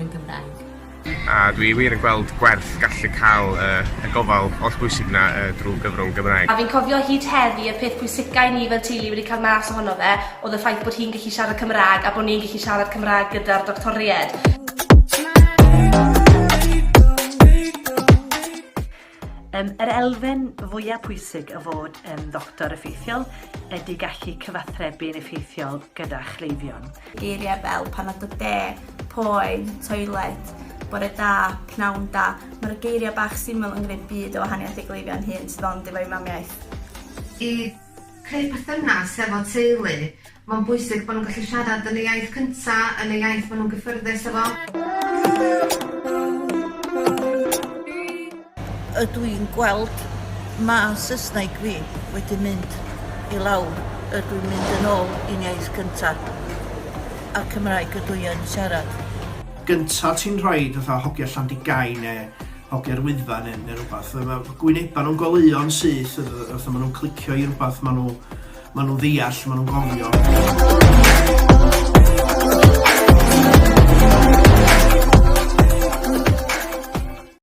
yn Gymraeg. A dwi wir yn gweld gwerth gallu cael y, y gofal oll bwysig na uh, drwy gyfrwng Gymraeg. A fi'n cofio hyd heddi y peth pwysica i ni fel teulu wedi cael mas ohono fe oedd y ffaith bod hi'n gallu siarad Cymraeg a bod ni'n gallu siarad Cymraeg gyda'r doctoried. Yym, yr elfen fwya pwysig o fod yn ddoctor effeithiol ydy gallu cyfathrebu yn effeithiol gyda chleifion. Geiriau fel pan nad o de, poen, toiled, bore da, pnawn da, mae'r geiriau bach syml yn gwneud byd o wahaniaeth i gleifion hŷn sydd ond efo'u mamiaith. I creu perthynas efo teulu Mae'n bwysig bod nhw'n gallu siarad yn y iaith cynta, yn y iaith maen nhw'n gyffyrddus â fo. Ydw i'n gweld ma Saesneg fi wedi mynd i lawr, ydw i'n mynd yn ôl i'n iaith cynta, a'r Cymraeg ydw i yn siarad. gynta ti'n rhoid fatha hogia Llandigain ne hogia'r Wyddfa ne ne rwbath, ma ma gwyneba nhw'n goleuo'n syth wrth ma nhw'n clicio i rwbath ma nhw Maen nhw'n ddeall, maen nhw'n gofio.